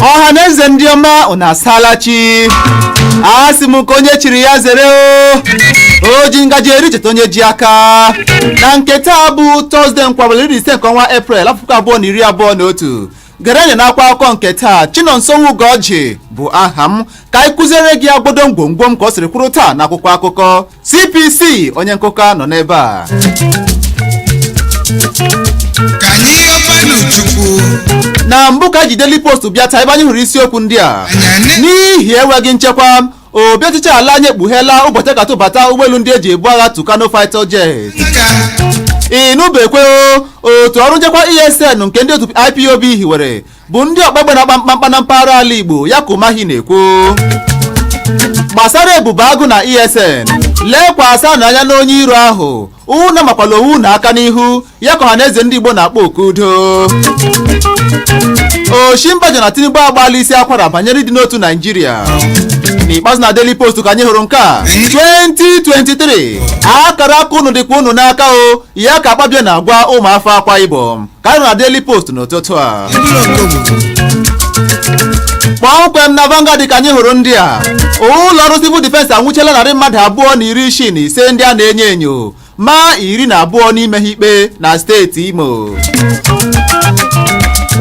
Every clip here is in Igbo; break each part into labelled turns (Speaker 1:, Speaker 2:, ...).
Speaker 1: ọha na eze ndị ọma unu asaala chi a sị m ka onye chiri ya zere o o ji ngaji eri cheta onye ji aka na nke taa bụ tọzde nkwọ abalị iri na ise nke ọnwa eprel afọ puku abụọ na iri abụọ na otu gerenye n'akwa akụkọ nke taa chinonso nwugoji bụ aha m ka anyị kụziere gị agbodo mgbomgbom ka o siri kwụrụ taa n'akwụkwọ akụkọ cpc onye nkụka nọ n'ebe a na mbụ ka anyị ji Daily Post bịa taa ebe anyị hụrụ isiokwu ndị a n'ihi enweghị nchekwa obi ọchịchị ala anyị ekpugheela ụbọchị a ga-atụbata ụgbọelu ndị e ji ebu agha Tucano fighter jet ịnụbekwe otu ọrụ nchekwa ESN nke ndị otu IPOB hiwere bụ ndị ọkpagbe na-akpa mkpamkpa na mpaghara ala Igbo ya ka Umahi na-ekwu gbasara ebube agụ na ESN lekwasịnụ anya n'onye iro ahụ unu amakwala onwe unu aka n'ihu ya ka ọhaneze ndị igbo na-akpọ oku udo osinbajo na tinubu agbaala isi akwara banyere ịdị n'otu naijiria n'ikpeazụ na daily post ka anyị hụrụ nke a 2023 akara aka unu dịkwa unu n'aka o ya ka akpabio na-agwa ụmụafọ akwa ibom ka anyị hụrụ na Daily Post n'ụtụtụ a kpọmkwem na Vanguard ka anyị hụrụ ndị a ụlọ ọrụ civil defense anwụchiela narị mmadụ abụọ na iri isii na ise ndị a na-enyo enyo ma iri na abụọ n'ime ha ikpe na steeti Imo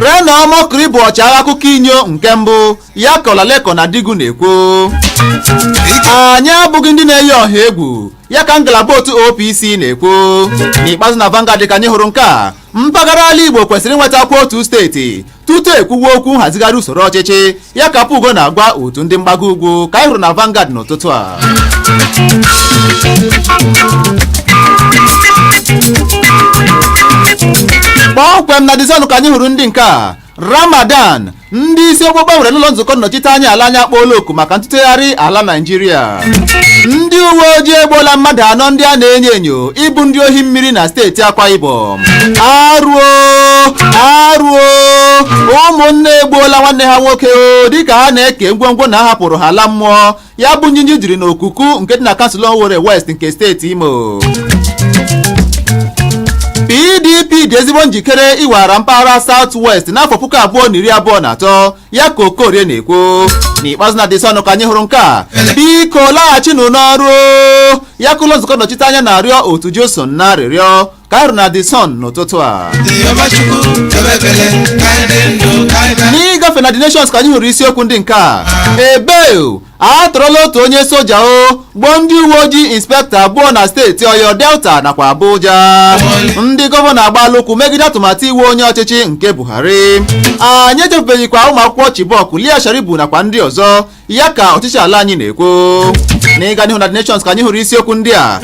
Speaker 1: Reno Omokri bụ ọchịagha akụkọ inyo nke mbụ ya ka Olalekan Adigun na-ekwu anyị abụghị ndị na-eyi ọha egwu ya ka ngalaba otu OPC na-ekwu n'ikpeazụ na Vanguard ka anyị hụrụ nke a mpaghara ala Igbo kwesịrị inwetakwa otu steeti tutu e kwuwe okwu nhazigharị usoro ọchịchị ya ka Apugo na-agwa otu ndị mgbago ugwu ka anyị hụrụ na Vanguard n'ụtụtụ a kpọmkwem na The Sun ka anyị hụrụ ndị nke a Ramadan ndị isi okpukpe nwere n'ụlọ nzukọ nnọchiteanya ala anyị akpọọla oku maka ntụtegharị ala Naịjirịa ndị uwe ojii egbuola mmadụ anọ ndị a na-enyo enyo ịbụ ndị ohi mmiri na steeti Akwa Ibom arụ o arụ o ụmụnne egbuola nwanne ha nwoke o dịka ha na-eke ngwongwo nna ha hapụrụ ha laa mmụọ ya bụ njinji jiri n'okuku nke dị na kansụl Owerri West nke steeti Imo pdp dị ezigbo njikere iweghara mpaghara South West n'afọ puku abụọ na iri abụọ na atọ ya ka okorie na-ekwu n'ikpeazụ na The Sun ka anyị hụrụ nke a biko laghachinụ n'ọrụ ya ka ụlọ nzukọ nnọchite anya na-arịọ otu JUSUN arịrịọ ka anyị hụrụ na the sun n'ụtụtụ a n'ịgafe na the nations ka anyị hụrụ isiokwu ndị nke a ebeo a tọrọla otu onye soja o gbuo ndị uwe ojii inspektọ abụọ na steeti ọyọ delta nakwa abuja ndị gọvanọ agbaala ụkwụ megide atụmatụ iwu onye ọchịchị nke buhari anyị echefubeghịkwa ụmụ akwụkwọ chibok leah sharibu nakwa ndị ọzọ ya ka ọchịchị ala anyị na-ekwu n'ịga n'ihu na The Nations ka anyị hụrụ isiokwu ndị a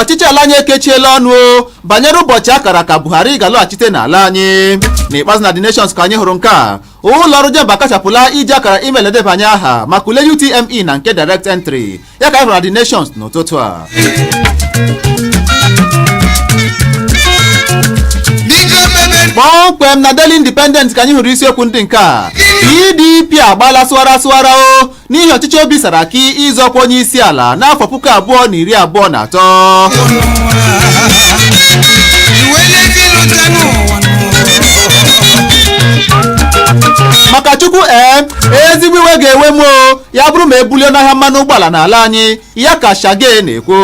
Speaker 1: ọchịchị ala anyị ekechiela ọnụ o banyere ụbọchị a kara aka Buhari ga-alọghachite n'ala anyị n'ikpeazụ na The Nations ka anyị hụrụ nke a ụlọ ọrụ JAMB akachapụla iji akara email edebanye aha maka ule UTME na nke direct entry ya ka anyị hụrụ na The Nations n'ụtụtụ a kpọmkwem na Daily Independent ka anyị hụrụ isiokwu ndị nke a PDP agbaala sụwara sụwara o n'ihi ọchịchọ obi Saraki ịzọ ọkwa onye isi ala n'afọ puku abụọ na iri abụọ na atọ maka chukwu ee ezigbo iwe ga-ewe m o ya bụrụ ma e bulie ọnụahịa mmanụ ụgbọala n'ala anyị ya ka sagay na-ekwu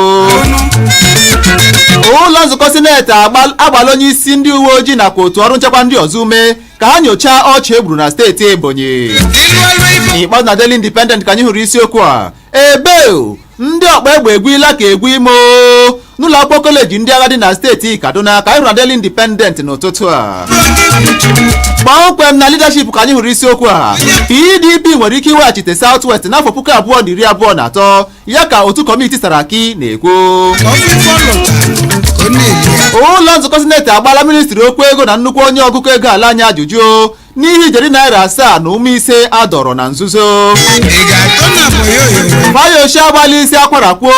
Speaker 1: ụlọ nzukọ sineti agbaala onye isi ndị uwe ojii nakwa otu ọrụ nchekwa ndị ọzọ ume ka ha nyochaa ọchụ e gburu na steeti ebonyi n'ikpeazụ na daily independent ka anyị hụrụ isiokwu a ebeo ndị ọkpa egbe egwuila ka egwu ime n'ụlọ akwụkwọ koleji ndị agha dị na steeti kaduna ka anyị hụrụ na Daily Independent n'ụtụtụ a kpọmkwem na leadership ka anyị hụrụ isiokwu a pdp nwere ike iweghachite south west n'afọ puku abụọ na iri abụọ na atọ ya ka otu kọmiti saraki na-ekwu ụlọ nzukọ sineti agbaala ministri okwu ego na nnukwu onye ọgụkọ ego ala anyị ajụjụ n'ihi ijeri naira asaa na ụmụ ise a dọrọ na nzuzo fayose agbaala isi akwara kwuo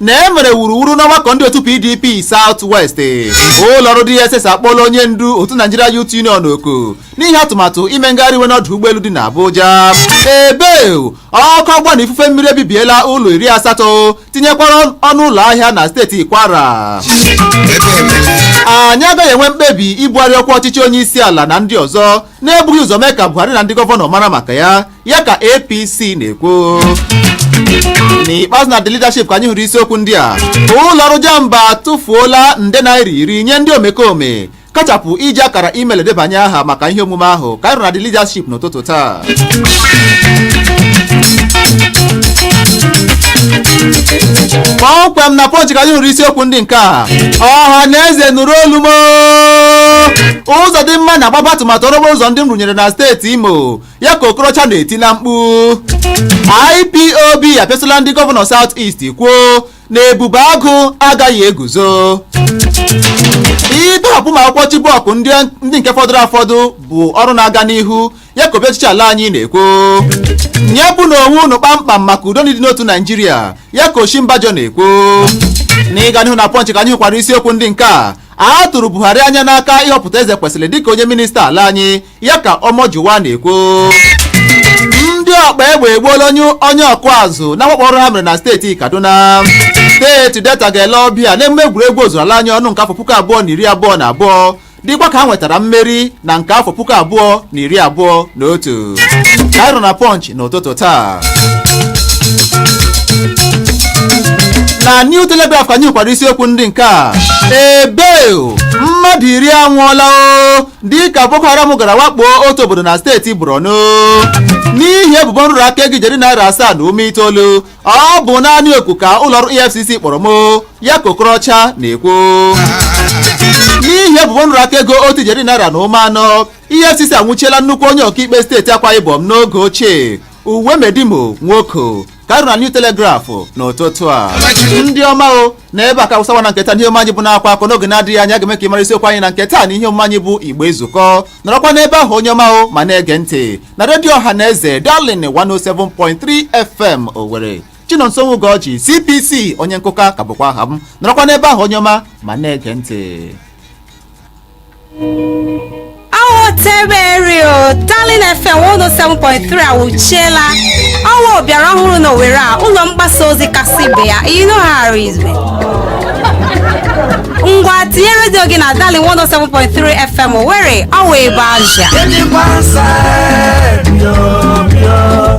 Speaker 1: na e mere wuruwuru n'ọgbakọ ndị otu pdp south west ụlọọrụ dss akpọla onye ndu otu nigeria youth union oku n'ihi atụmatụ ime ngagharị iwe n'ọdụ ụgbọelu dị n'abuja ebeo ọkụ ọgbụgba na ifufe mmiri ebibiela ụlọ iri asatọ tinyekwara ọnụ ụlọ ahịa na steeti kwara anyị agaghị enwe mkpebi ibugharị ọkwa ọchịchị onye isi ala na ndị ọzọ na-ebughị ụzọ mee ka buhari na ndị gọvanọ mara maka ya ya ka apc na-ekwu n'ikpeazụ na the leadership ka anyị hụrụ isiokwu ndị a ụlọ ọrụ jamb atụfuola nde naira iri nye ndị omekome kachapụ iji akara email edebanye aha maka ihe omume ahụ ka anyị hụrụ na the leadership n'ụtụtụ taa kpọmkwem na punch ka anyị hụrụ isiokwu ndị nke a ọha na eze nụrụ olu m uzodimma na-agbape atụmatụ ọrụ okporo ụzọ ndị m rụnyere na steeti imo ya ka okorocha na-eti na mkpu ipob apịasịla ndị gọvanọ south east kwuo na ebube agụ agaghị eguzo ịtọhapụ ụmụ akwụkwọ Chibok ndị nke fọdụrụ afọdụ bụ ọrụ na-aga n'ihu ya ka obi ọchịchị ala anyị na-ekwu nyepụnụ onwe unu kpamkpam maka udo na ịdị n'otu Naijiria ya ka Osinbajo na-ekwu n'ịga n'ihu na Punch ka anyị hụkwara isiokwu ndị nke a a tụrụ Buhari anya n'aka ịhọpụta Ezekwesili dịka onye minista ala anyị ya ka Omojuwa na-ekwu ndị ọgba egbe egbuola onye onye ọkụ azụ na mwakpo ọhụrụ ha mere na steeti kaduna steeti delta ga-ele ọbịa n'emume egwuregwu ozuru ala anyị ọnụ nke afọ puku abụọ na iri abụọ na abụọ dịkwa ka ha nwetara mmeri na nke afọ puku abụọ na iri abụọ na otu ka anyị hụrụ na punch n'ụtụtụ taa na new telegraph ka anyị hụkwara isiokwu ndị nke a ebe mmadụ iri anwụọla o dịka boko haram gara wakpo otu obodo na steeti borno n'ihi ebubo nrụrụ aka ego ijeri naira asaa na ụma itoolu ọ bụ naanị oku ka ụlọọrụ efcc kpọrọ m ya ka okorocha na-ekwu n'ihi ebubo nrụrụ aka ego otu ijeri naira na ụma anọ efcc anwụchiela nnukwu onye ọkaikpe steeti akwa ibom n'oge ochie Uwemedimo Nwoko ka anyị hụrụ na New Telegraph n'ụtụtụ a ndị ọma o na ebe a ka a wụsa ọwa na nke taa n'ihe omume anyị bụ na-akwa akọ n'oge na-adịghị anya a ga-eme ka ị mara isiokwu anyị na nke taa na ihe omume anyị bụ Igbo ezukọọ nọrọkwa n'ebe ahụ onye ọma o ma na-ege ntị na redio ọha na eze Darling 107.3 fm Owerri Chinonso Ugorji CPC onye nkụka ka bụkwa aha m nọrọkwa n'ebe ahụ onye ọma ma na-ege ntị
Speaker 2: awụteberi o Darling FM 107.3 awụchiela ọwa bịara ọhụrụ na Owerri a ụlọ mgbasa ozi kasị ibe ya you know how it is. ngwa tinye redio gị na Darling 107.3 FM Owerri ọwa ebe azụ Anyone side, yo, yo.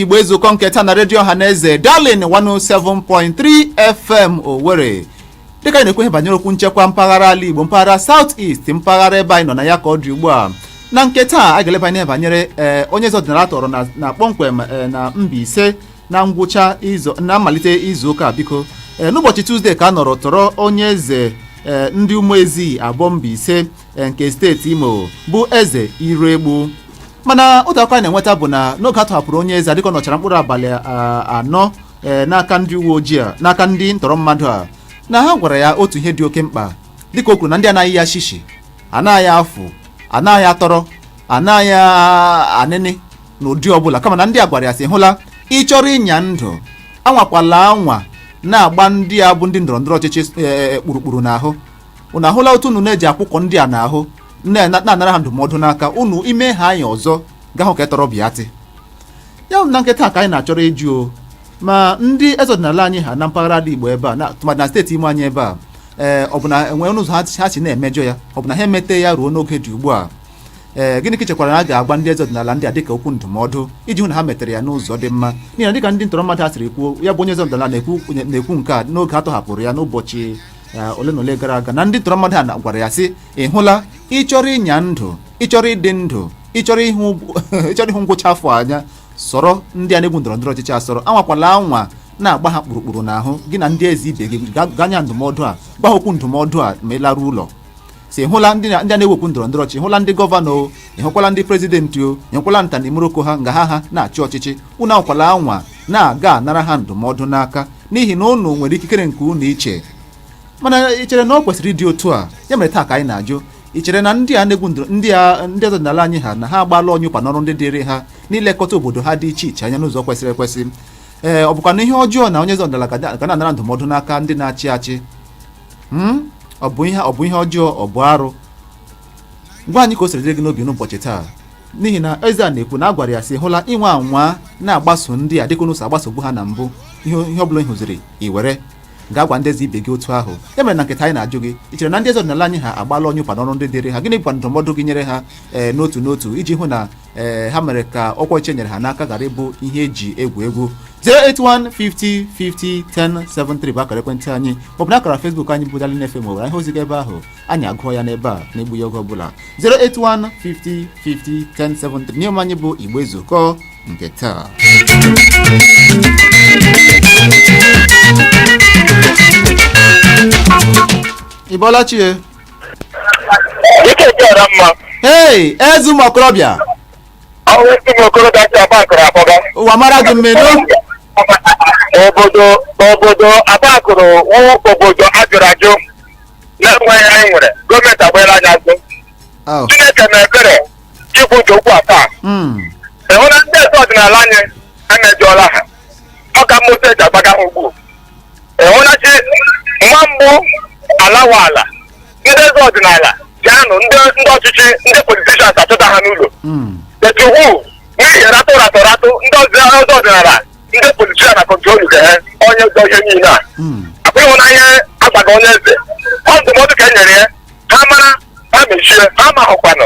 Speaker 1: igbo ezukọọ nke taa na redio ọha na eze Darling 107.3 fm owere dịka anyị na-ekwu ihe banyere okwu nchekwa mpaghara ala igbo mpaghara south east mpaghara ebe anyị nọ na ya ka ọ dị ugbu a na nke taa a ga-eleba anya banyere ee onye eze ọdịnala a tọrọ na- na kpọmkwem ee, na Mbaise na ngwụcha izu na mmalite izu ụka a, biko ee, n'ụbọchị tuzdee ka a nọrọ tọrọ onye eze ee, ndị Umuezie Aboh Mbaise nke steeti imo bụ eze Iroegbu mana otu akụkọ anyị na-enweta bụ na n'oge a tọhapụrụ onye eze a dịka ọ nọchara mkpụrụ abalị a- anọ ee, n'aka ndị uwe ojii a n'aka ndị ntọrọ mmadụ a na ha gwara ya otu ihe dị oke mkpa dịka o kwuru na ndị anaghị ya shishi anaghị ya afụ anaghị ya tọrọ anaghị ya anịnị n'ụdị ọbụla kama na ndị a gwara ya sị hụla ị chọrọ ịnya ndụ anwakwala anwa na-agba ndị a bụ ndị ndọrọ ndọrọ ọchịchị ee, kpurukpuru n'ahụ unu ahụla otu unu na-eji akwụkwọ ndị a n'ahụ nne na- na-anara ha ndụmọdụ n'aka unu ime ha anyị ọzọ gahụ ka etọrọ bịatị ya bụ na nke taa ka anyị na-achọrọ ịjụ o ma ndị eze ọdịnala anyị ha na mpaghara ala igbo ebe a na tụmadị na steeti Imo anyị ebe a ee ọ bụ na e nwere ụzọ ha si- ha si na-emejọ ya ọ bụ na ha emete ya ruo n'oge dị ugbu a ee gịnị ka ị chekwara na a ga-agwa ndị eze ọdịnala ndị a dịka okwu ndụmọdụ iji hụ na ha metere ya n'ụzọ dị mma n'ihi na dịka ndị ntọrọ mmadụ a siri kwuo ya bụ onye eze ọdịnala na-ekwu na-ekwu nke a n'oge a tọhapụrụ ya n'ụbọchị ya ole na ole gara aga na ndị tọrọ mmadụ a na- gwara ya sị ị hụla ị chọrọ ịnya ndụ ị chọrọ ịdị ndụ ị chọrọ ịhụ ụgwọ- ị chọrọ ịhụ ngwụcha afọ anya sọrọ ndị a na-egwu ndọrọ ndọrọ ọchịchị asọrọ anwakwala anwa na-agba ha kpụrụkpụrụ n'ahụ gị na ndị eze ibe gị ga- gaa nye ndụmọdụ a gwa ha okwu ndụmọdụ a ma ị laruo ụlọ sị ị hụla ndị a na-egwu egwu ndọrọ ndọrọ ọchịchị ị hụla ndị gọvanọ o ị hụkwala ndị prezidenti o ị hụkwala nta na imeroko ha nga ha ha na-achị ọchịchị unu anwakwala anwa na-aga anara ha ndụmọdụ n'aka n'ihi na unu nwere ikikere nke unu iche mana ị chere na ọ kwesịrị ịdị otu a ya mere taa ka anyị na-ajụ ị chere na ndị a na-egwu ndị a ndị ọdịnala anyị ha na ha agbaala ọnyụpa n'ọrụ ndị dịrị ha n'ilekọta obodo ha dị iche iche anya n'ụzọ kwesịrị ekwesị ee ọ bụkwanụ ihe ọjọọ na onye eze ọdịnala ga na-anara ndụmọdụ n'aka ndị na-achị achị Hmm? ọ bụ ihe ọ bụ ihe ọjọọ ọ bụ arụ gwa anyị ka o siri dịrị gị n'obi n'ụbọchị taa n'ihi na eze a na-ekwu na a gwara ya sị ị hụla ị nwaa anwa na-agbaso ndị a dịka unu si agbasobu ha na mbụ ihe ọ bụla ị hụziri i were gaa gwa ndị eze ibe gị otu ahụ ya mere na nke taa anyị na-ajụ gị ị chere na ndị eze ọdịnala anyị ha agbaala ọnyụpa n'ọrụ ndị dịrị ha gịnị bụkwa ndụmọdụ gị nyere ha ee eh, n'otu n'otu iji hụ na ee ha mere ka ọkwa ọchịchị e nyere ha n'aka ghara ịbụ ihe e ji egwu egwu 08150501073 bụ akara ekwentị anyị maọbụ na akara Facebook anyị bụ Darling FM Owerri ihe ozi gaa ebe ahụ anyị agụọ ya n'ebe a na-egbughị oge ọbụla 08150501073 n'ihe omume anyị bụ Igbo Ezukọ nke taa Ị bọọla chi e? Dike jara mma. Hey, eze ụmụ okorobịa. Ọ wụ eze ụmụ okorobịa si Abakụrụ akpọga. Ụwa mara gị mma nnọọ.
Speaker 3: Obodo obodo Abakụrụ wụ obodo ajụrụ ajụ na-enweghị onye nwere gọọmenti agbaela anyị azụ. Oh. Chineke na ebere Chukwu nke ukwu ataa. Mm. Ị hụna ndị eze ọdịnala anyị emejọọla ha. Ọ ka mma otu e ji agbaga ha ugbu. ị hụna chi nwa mbụ alawa ala ndị eze ọdịnala ji anọ ndị ndị ọchịchị ndị politishans achọta ha n'ụlọ Mm. etu hu n'ihi ratụ ratụ ratụ ndị eze ọdịnala ndị politishan na-akọntrolụga ha onye ụzọ ihe niile a Mm. akwa ị hụna ihe agbaga onye eze ọ ndụmọdụ ka e nyere ya ha mara ha mechie ha ma hụkwanụ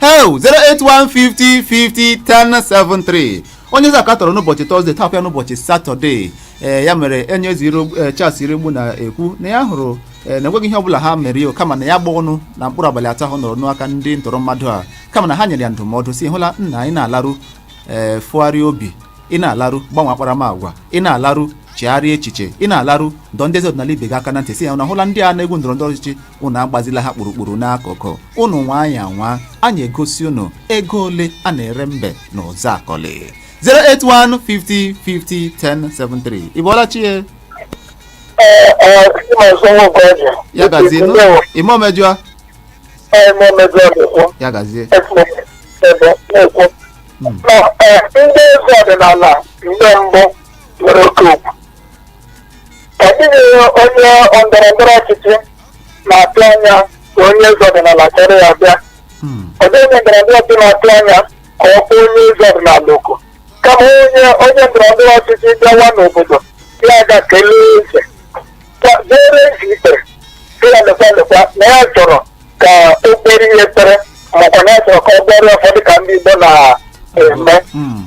Speaker 1: hel 08150501073 onye eze a ka a tọrọ n'ụbọchị tọzde tọpụ ya n'ụbọchị satọde ee ya mere onye eze iro- eh, charles iroegbu na-ekwu na ya hụrụ eh, na enweghị ihe ọbụla ha mere ya kama na ya gba ọnụ na mkpụrụ abalị atọ ahụ nọrọ n'aka ndị ntọrọ mmadụ a kama na ha nyere ya ndụmọdụ sị hụla nna anyị na-alarụ ee tụgharịa obi ị na-alarụ gbanwe akparamagwa ị na-alarụ chegharịa echiche ị na-alarụ dọ ndị eze ọdịnala ibe gị aka na ntị sị ya na hụla ndị a na-egwu ndọrọ ndọrọ ọchịchị unu agbazila ha kpurukpuru n'akụkụ unu nwaa anyị anwa anyị egosi unu ego ole a na-ere mbe na ụzụakọlị 081 50 50 10 73 ị bọọla chi ya ya gazie nụ ime omejọ ya
Speaker 3: gazie ndị eze ọdịnala mgbe mbụ nwere oke okwu ọ dịghị onye ndọrọ ndọrọ ọchịchị na-atụ anya ka onye eze ọdịnala chọrọ ya bịa Mm. ọ dịghị onye ndọrọ ndọrọ ọchịchị na-atụ anya ka ọ kpọọ onye eze ọdịnala oku kama onye onye ndọrọ ndọrọ ọchịchị bịawa n'obodo ya gaa kelee eze Ka- dere eze ikpere sị ya lekwa lekwa na ya chọrọ ka o kpeere ya ekpere makwa na ya chọrọ ka ọ gọọrọ ya ọfọ dị ka ndị Igbo na-eme Mm.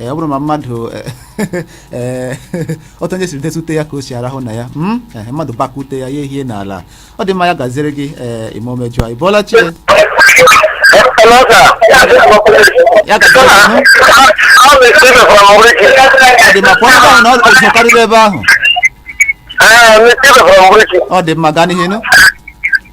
Speaker 1: ee ọ bụrụ ma mmadụ ee otu onye siri dote ute ya ka o si arahụ na ya mm? Ehe, mmadụ gbakaa ute ya ya ehie n'ala ọ dị mma ya gaziere gị ee ime omejọ ị bọọla chi ya gaziere gị nụ. ọ dị mma pụọ ebe ahụ na ụzụ karịrị ebe ahụ ọ dị mma gaa n'ihu nụ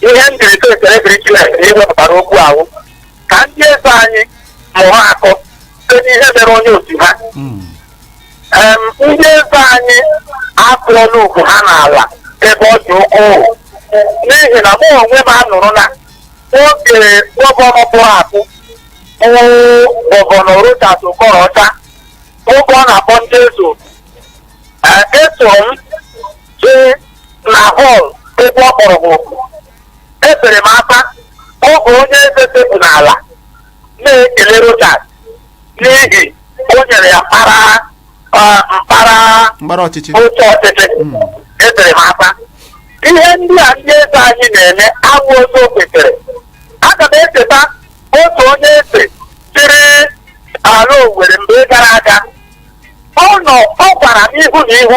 Speaker 3: ihe m jiri sị ekele dịrị Chineke na i wepụtara okwu ahụ ka ndị eze anyị mụrụ akọ site n'ihe mere onye otu ha Mm. Em, ndị eze anyị akụọla ugwu ha n'ala ebe ọ dị ukwuu n'ihi na mụ onwe m anụrụ na oge gọvanọ pụrụ apụ bụ gọvanọ Rochas Okorocha oge ọ na-akpọ ndị eze oku, eh, eso m jee na họl ebe ọ kpọrọ ha oku ebere m akwa oge onye eze sekpu n'ala na-ekele rochas n'ihi o nyere ya mkpara ah, mkpara
Speaker 1: mkpara ọchịchị oche ọchịchị
Speaker 3: Mm. ebere m akwa ihe ndị a ndị eze anyị na-eme awụghị otu o kwesịrị aga m echeta otu onye eze chịrị ala owere mgbe gara aga ọ nọ ọ gwara m ihu na ihu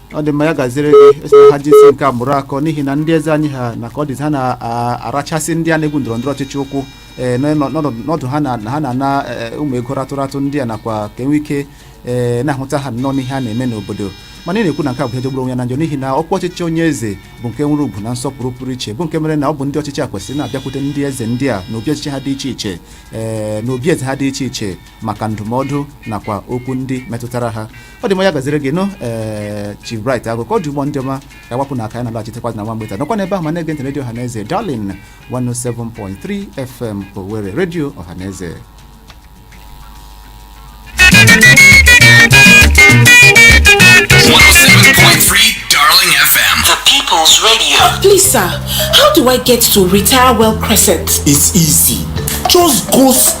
Speaker 1: ọ dị mma ya gaziere gị ị sị na ha jizi nke a mụrụ akọ n'ihi na ndị eze anyị ha na ka ọ dịzi ha na-arachasị ndị a na-egwu ndọrọ ndọrọ ọchịchị ụkwụ ee, n'ọ- n'ọnọdụ- n'ọdụ ha na ha na-ana ee, ụmụ ego ratụratụ ndị a nakwa ka e nwe ike ee, na-ahụta ha nnọọ n'ihe a na-eme n'obodo mana ị na-ekwu na nke a bụ ihe jọgburu onwe ya na njọ n'ihi na ọkwa ọchịchị onye eze bụ nke nwere ugwu na nsọpụrụ pụrụ iche bụ nke mere na ọ bụ ndị ọchịchị a kwesịrị na-abịakwute ndị eze ndị a n'obi ọchịchị ha dị iche iche ee, n'obi eze ha dị iche iche maka ndụmọdụ nakwa okwu ndị metụtara ha ọ dị mma ya gaziere gị nụ ee Chief Bright Agụ ka ọ dị ugbu a ndị ọma ka a gbapụ n'aka ya na-alaghachitekwa na nwa mgbe nta nọkwa n'ebe ahụ ma na-ege ntị redio ọhaneze Darling 107.3 FM Owerri redio ọhaneze
Speaker 4: Darling FM. The People's
Speaker 5: Radio. Please, sir,
Speaker 6: how do I get to Retire Well Crescent? It's easy.
Speaker 7: Just go straight.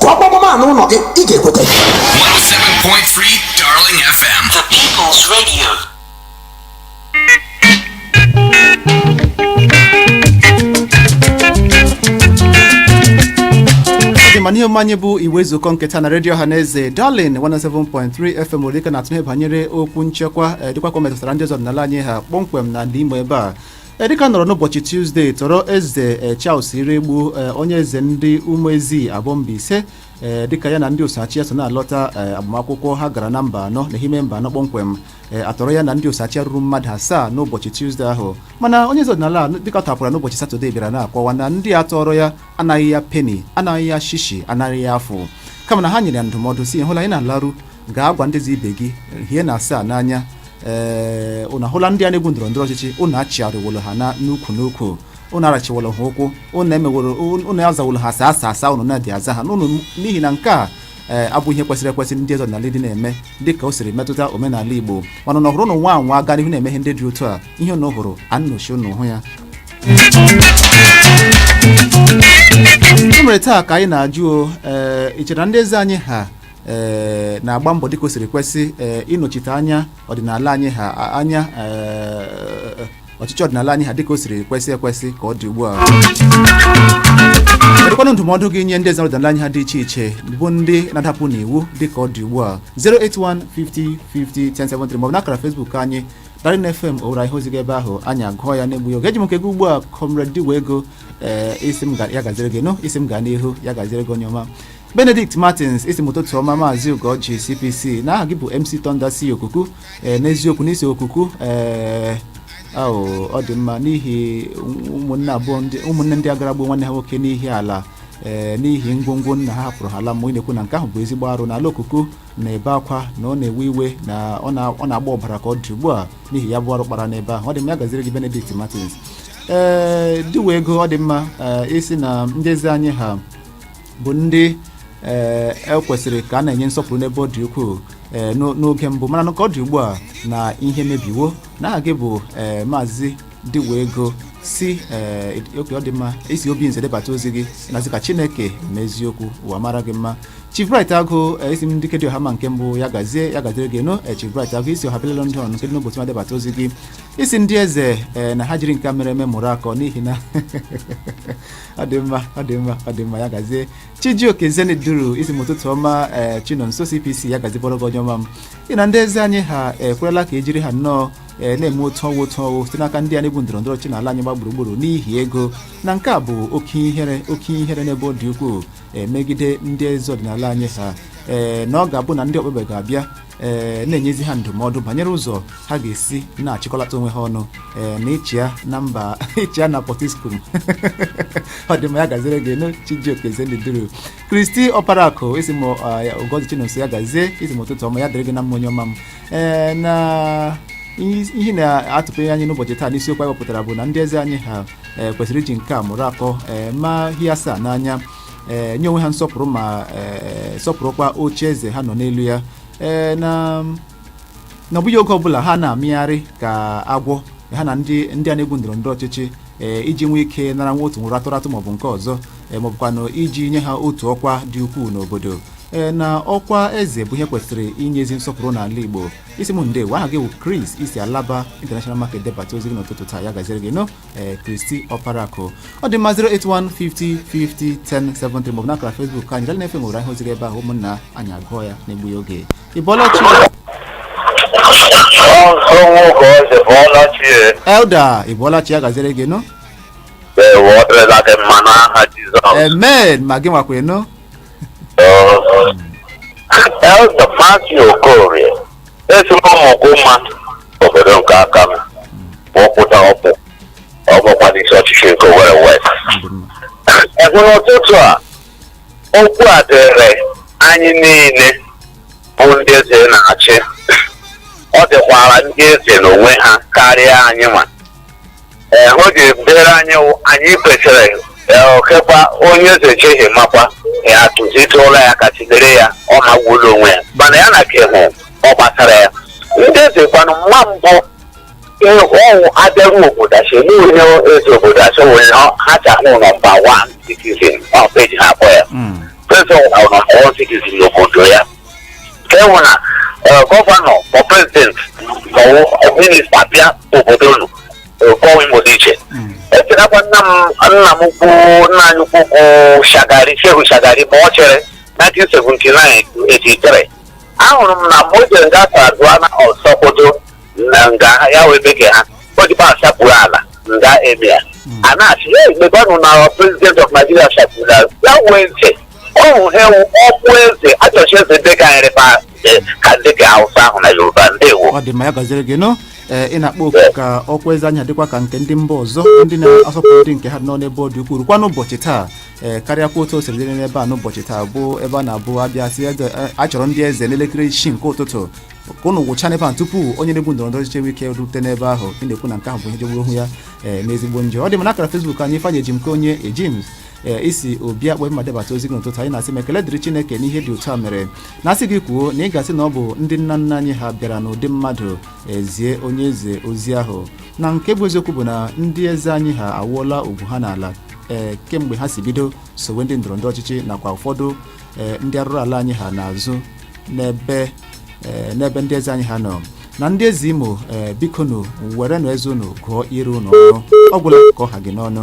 Speaker 5: kụọ gbamgbam a n'ụlọ gị ị
Speaker 4: ga-ekweta 107.3 Darling FM. The
Speaker 8: People's
Speaker 1: Radio. dị mma n'ihe omume anyị bụ igwe ezukọọ nke taa na redio ọha na eze Darling 107.3 FM Owerri dịka a na-atụle banyere okwu nchekwa eh, dịkwa ka o metụtara ndị eze ọdịnala anyị ha kpọmkwem na ndị Imo ebe a E, dịka a nọrọ n'ụbọchị tuzdee tọrọ eze e, Charles Iroegbu e, onye eze ndị Umuezie Aboh Mbaise ee dịka ya na ndị osoachị ya so na-alọta ee agbamakwụkwọ ha gara na Mbano n'Ehime Mbano kpọmkwem ee a tọrọ ya na ndị osoachị ya ruru mmadụ asaa n'ụbọchị tuzdee ahụ mana onye eze ọdịnala a dịka a tọpụrụ ya n'ụbọchị satọde bịara na-akọwa na ndị a tọrọ ya anaghị ya peni anaghị ya shishi anaghị ya afụ kama na ha nyere ya ndụmọdụ sị hụla ị na-alaru gaa gwa ndị eze ibe gị hie na asaa n'anya ee ụnụ ahụla ndị a na-egwu ndọrọ ndọrọ ọchịchị ụnụ achịgharịwolo ha na n'ukwu n'ukwu ụnụ arachiwolo ha ụkwụ ụnụ emeworo ụnụ azawolo ha sir sir sir ụnụ na-adị aza ha n'ụnụ n'ihi na nke a ee abụ ihe kwesịrị ekwesị ndị eze ọdịnala dị na-eme dị ka o siri metụta omenala igbo mana na ọ bụrụ ụnụ nwaa anwa gaa n'ihu na-eme ihe ndị dị otu a ihe ụnụ hụrụ anụchi ụnụ hụ ya mere taa ka anyị na-ajụ o ee ị chere na ndị eze anyị ha ee na-agba mbọ dịka o siri kwesị ee ịnọchite anya ọdịnala anyị ha a- anya ee, ọchịchị ọdịnala anyị ha dịka o siri kwesị ekwesị ka ọ dị ugbu a kedụkwanụ ndụmọdụ gị nye ndị eze ọdịnala anyị ha dị iche iche bụ ndị na-adapụ n'iwu dịka ọ dị ugbu a 08150501073 maọbụ n'akara Facebook anyị Darling FM Owerri ihe ozi gị ebe ahụ anyị agụọ ya n'egbughị oge eji m nke gị ugbu a comrade Diwe ego ee ị sị m ga- ya gaziere gị nụ ị sị m gaa n'ihu ya gaziere gị onye ọma benedict martins ị sị m ụtụtụ ọma maazị ugorji cpc na aha gị bụ mc thunder si okuku ee n'eziokwu na i si okuku ee ahụ ọ dị mma n'ihi ụmụnne abụọ ndị ụmụnne ndị agara gbuo nwanne ha nwoke n'ihi ala ee n'ihi ngwongwo nna ha hapụrụ ha laa mmụọ ị na-ekwu na nke ahụ bụ ezigbo arụ n'ala okuku na-ebe akwa na ọ na-ewe iwe na ọ na- ọ na-agba ọbara ka ọ dị ugbu a n'ihi ya bụ arụ kpara n'ebe ahụ ọ dị mma ya gaziri gị benedict martins ee diwe ego ọ dị mma ee ị sị na ndị eze anyị ha bụ ndị ee kwesịrị ka a na-enye nsọpụrụ n'ebe ọ dị ukwuu ee n'o- n'oge mbụ mana na ka ọ dị ugbu a na ihe mebiwo na aha gị bụ ee maazị diwe ego si ee oke ọ dị mma i si obinze debata ozi gị na-asị ka chineke ma eziokwu ụwa mara gị mma chief bright agụ ee, ị sị m dike dị ọha mma nke mbụ ya gazie ya gaziere gị nnọọ ee, chief bright agụ i si ọha bịa london nke dị n'obosima debata ozi gị ị sị ndị eze ee, na ha jiri nke a mere eme mụrụ akọ n'ihi na ọ dị mma ọ dị mma ọ dị mma ya gazie chijioke zenith duru ị sị m ụtụtụ ọma ee chinonso cpc ya gazikwara gị onye ọma m ị na ndị eze anyị ha ekwerela ka e jiri ha nnọọ ee na-eme otu ọ wụ otu ọ wụ site n'aka ndị a na-egwu ndọrọ ndọrọ ọchịchị n'ala anyị gba gburugburu n'ihi ego na nke a bụ oke ihere oke ihere n'ebe ọ dị ukwuu ee, megide ndị eze ọdịnala anyị ha ee na ọ ga-abụ na ndị okpukpe ga-abịa ee na-enyezi ha ndụmọdụ banyere ụzọ ha ga-esi na-achịkọlata onwe ha ọnụ ee na ịchịa na mba ịchịa na pọtiskum ọ dị mma ya gaziri gị nnọọ chijioke zenith duru christy ọparakụ ị sị m ugorji chinonso ya gazie ị sị m ụtụtụ ọma ya dịrị gị na mma onye ọma m ee na ihe na-atụpere anyị n'ụbọchị taa n'isiokwu anyị wepụtara bụ na ndị eze anyị ha kwesịrị iji nke a mụrụ akọ ee ma ihe asaa n'anya ee nye onwe ha nsọpụrụ ma ee sọpụrụkwa oche eze ha nọ n'elu ya ee na na ọ bụghị oge ọbụla ha na-amịgharị ka agwọ ha na ndị ndị a na-egwu ndọrọ ndọrọ ọchịchị ee iji nwee ike nara nwa otu nwụrụ atụratụ maọbụ nke ọzọ ee maọbụkwanụ iji nye ha otu ọkwa dị ukwuu n'obodo ee na ọkwa eze bụ ihe kwesịrị inye ezi nsọpụrụ n'ala igbo ị sị m ndewo aha gị bụ Chris i si alaba international market debata ozi gị n'ụtụtụ taa ya gaziri gị nnọọ ee christy ọparakụ ọ dị mma 08150501073 maọbụ n'akara facebook anyị darling fm owerri ihe ozi gị ebe ahụ ụmụnna anyị agụọ ya n'egbughị oge ị bọọla chi Ọzọ nwoke ọzọ ị bọọla chi elder ị bọọla chi ya gaziri gị nnọọ ewe ọ dịrịla gị mma n'aha Jizọs. amen ma gị nwakwa
Speaker 3: nnọọ Elder Matthew Okorie esi m ụmụguma obodo nke aka m ma ọ pụta ọkpụ ọ bụkwa n'isi ọchịchị nke owerri west ebe n'ụtụtụ a okwu a dịrị anyị niile bụ ndị eze na-achị ọ dịkwara ndị eze n'onwe ha karịa anyị ma ee o ji bere anyị wụ anyị kwesịrị ee, okekwa onye eze cheghị makwa ya tụzite ụlọ ya ka chidere ya ọ magburu onwe ya mana ya na ka ihe ọ gbasara ya ndị eze kwanụ mma mbụ ee, ọwụ a bịaru obodo a sị enye onye eze obodo a sị onye ọ- ha ji ahụ nọmba wan citizen ọ peji ha akpọ ya Mm. prezident ọ nọmba wan citizen n'obodo ya ka e nwere na eh, gọvanọ ma prezident ma ọ bụ minista bịa obodo unu kọwa imo dị iche echetakwa nna m nna m ukwu nna anyị ukwu bụ shagari shehu shagari ma ọ chịrị 1979 83 ahụrụ m na mgbe o jere nga sardauna of sokoto na nga ya wee bege ha odibo asapụrụ ala nga emia a na-asị ya emebanụ na president of nigeria sapụrụ ala ya wee ndị ọhụ ha ewu okpu eze echichi eze ndị ka nyere fa eh, ka ndị ka hausa ahụ na yoruba ndewo ọ dị mma ya gaziere gị
Speaker 1: nụ ee ị na-akpọ oku ka ọkwa eze anyị ha dịkwa ka nke ndị mba ọzọ ndị na-asọpụrụ ndị nke ha nọ n'ebe ọ dị ukwuu rukwa n'ụbọchị taa ee karịakwa otu o siri dịrị n'ebe a n'ụbọchị taa bụ ebe a na-abụ a bịa sị eze a- a chọrọ ndị eze n'elekere isii nke ụtụtụ ka ụnụ kwụcha n'ebe a tupu onye na-egwu ndọrọ ndọrọ ọchịchị ike rute n'ebe ahụ ị na-ekwu na nke ahụ bụ ihe jọgburu onwe ya ee n'ezigbo njọ ọ dị mma n'akara fesbuk anyị ifeanyị ejimkeonye ejims ee i si obi akpọ mma debata ozi gị n'ụtụtụ a ị na-asị m ekele dịrị chineke n'ihe dị otu a mere na a sị gị kwuo na ị ga-asị na ọ bụ ndị nna nna anyị ha bịara n'ụdị mmadụ zie onye eze ozi ahụ na nke bụ eziokwu bụ na ndị eze anyị ha awụọla ugwu ha n'ala ee kemgbe ha si bido sowe ndị ndọrọndọrọ ọchịchị nakwa ụfọdụ ee ndị arụrụala anyị ha n'azụ n'ebe ee, n'ebe ndị eze anyị ha nọ na ndị eze imo ee, bikonu werenụ eze unu gụọ ire unu ọnụ ọ gwụla ka ọ ha gị n'ọnụ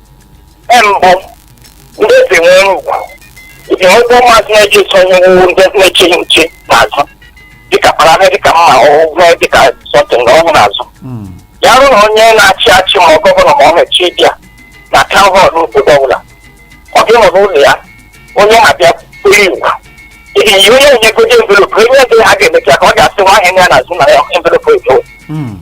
Speaker 3: mbụ ndị eze nwere ugwu iji nwekwa ụmụazị na-eji eso ihe wuwu ndị na-eche gị nche n'azụ dịka kparame dịka mma ọgwụgwọ dịka sọtịn na ọhụrụ azụ Mm. ya rụ na onye na-achị achị ma ọ gọvanọ ma ọ na-echi bịa na taụn họl n'obodo ọbụla ọ ga-anọ n'ụlọ ya onye na-abịa kpụrụ ewu ehi onye na-enyegodi envelopụ onye eze ha ga-emecha ka ọ ga-asị nwa ahịa ya n'azụ na ya envelopụ ekewe Mm.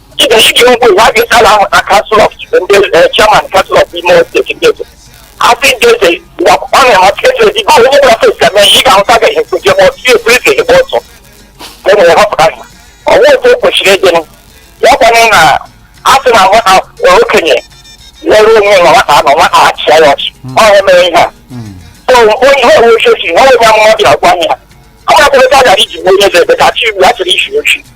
Speaker 3: ị nwere ike ịhụ ụwa gị a na-ahụta kansụl ọf ndị chairman kansụl ọf imo steeti ndị eze asị ndị eze ọ na-amasị eze ezi gị onye bụla fesi eme ihe ị ga-ahụta gaghị ekweje ma ọtụ ebu eze ebe ọtọ e nwere họpụta ha ọnwa otu o kwesịrị ịdịnụ ya kwanụ na a sị na nwata okenye lere onwe na nwata anọ nwata achịa ya ọchị ọ ya mere ihe a so onye ha onwe ochi ochi nwa onye amụma bịara gwa ya ọ ga-akwụrụ ka a gara iji gbuo onye eze ebe ka chi igbu a chịrị isi ochi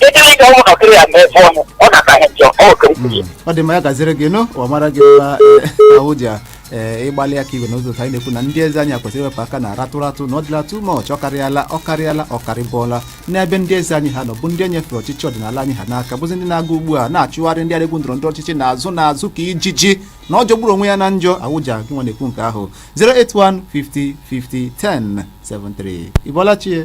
Speaker 3: ịdịrị ịga ụmụntakịrị ya mee fọ ọnụ ọ na-ata ihe njọ ọ okere Mm. ọ dị
Speaker 1: mma ya gaziri gị nụ ọ mara gị mma eh, ahụ ji a, eh, ịgbalị aka igwe n'ụzọ otu anyị na-ekwu na ndị eze anyị a kwesịrị iwepụ aka na ratụ ratụ na ọ dịla too much ọ karịala ọ karịala ọ karịbụọla n'ebe ndị eze anyị ha nọ bụ ndị e nyefere ọchịchị ọdịnala anyị ha n'aka bụzi ndị na-aga ugbu a na-achụgharị ndị aregwu ndọrọ ndọrọ ọchịchị n'azụ n'azụ ka ijiji na ọ jọgburu onwe ya na njọ awụja gị nwa na-ekwu nke ahụ 081 50 50 10 73 ị bọọla chi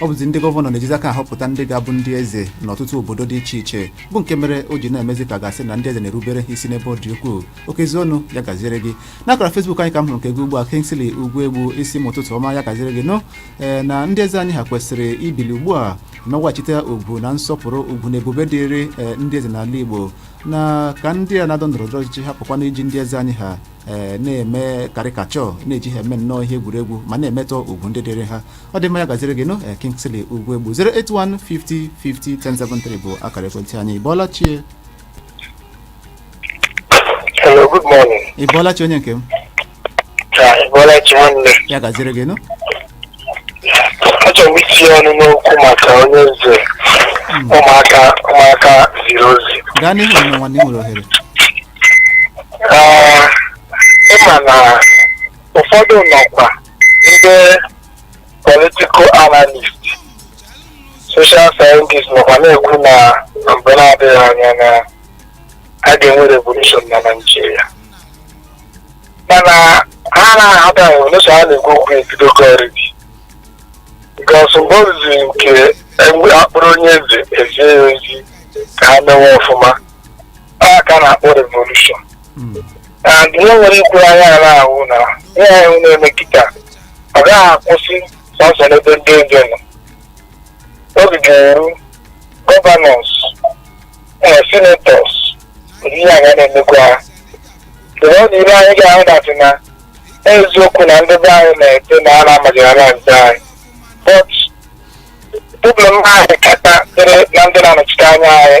Speaker 1: ọ bụzi ndị gọvanọ na-ejizi aka ahọpụta ndị ga-abụ ndị eze n'ọtụtụ obodo dị iche iche bụ nke mere o ji na-emezi ka a ga-asị na ndị eze na-erubere ha isi n'ebe ọ dị ukwuu Okezie Ọnụ ya gaziere gị n'akara Facebook anyị ka m hụrụ nke gị ugbu a Kingsley Ugwuegbu ị sị m ụtụtụ ọma ya gaziere gị nụ ee na ndị eze anyị ha kwesịrị ibili ugbu a nweghachite ugwu na nsọpụrụ ugwu na ebube dịrị ndị eze n'ala Igbo na ka ndị a na-adọ ndọrọ ndọrọ ọchịchị hapụkwana iji ndị eze anyị ha ee na-eme caricature na-eji ha eme nnọọ ihe egwuregwu ma na-emetọ ugwu ndị dịrị ha ọ dị mma ya gaziri gị nụ ee, Kingsley Ugwuegbu 08150501073 bụ akara ekwentị anyị ị bọọla chi
Speaker 3: Hello, good morning. ị bọọla chi onye nke
Speaker 1: m Ka
Speaker 3: ị bọọla chi nwanne. ya gaziri gị
Speaker 1: nụ
Speaker 3: Achọrọ m itinye ọnụ n'okwu maka onye eze ụmụaka ụmụaka ziri ozi. gaa n'ihu nne nwanne ị
Speaker 1: nwere ohere
Speaker 3: Ee, ị ma na ụfọdụ nọkwa ndị political analyst social scientist nọkwa na-ekwu na mgbe na-adịghị anya na a ga-enwe revolution na Naịjirịa mana ha amaha that revolution a na-ekwu okwu ebidogo already because mgbe o ruzi nke enwe- a kpụrụ onye eze e zie ya ozi ka ha mewe ọfụma a ka a na-akpọ revolution Mm. and ihe nwere ikwu anya a na-ahụ na ihe ahụ na-eme kịta ọ gaghị akwụsị sọsọ n'ebe ndị eze nọ oge ga-eru governors ee senators ụdị ihe anyị na-emekwa ha mgbe ọ dị ire anyị ga-ahụ that na eziokwu na ndị be anyị na-ete na a na-amajara ndị eze anyị but problem anyị kịta dịrị na ndị na-anọchite anya anyị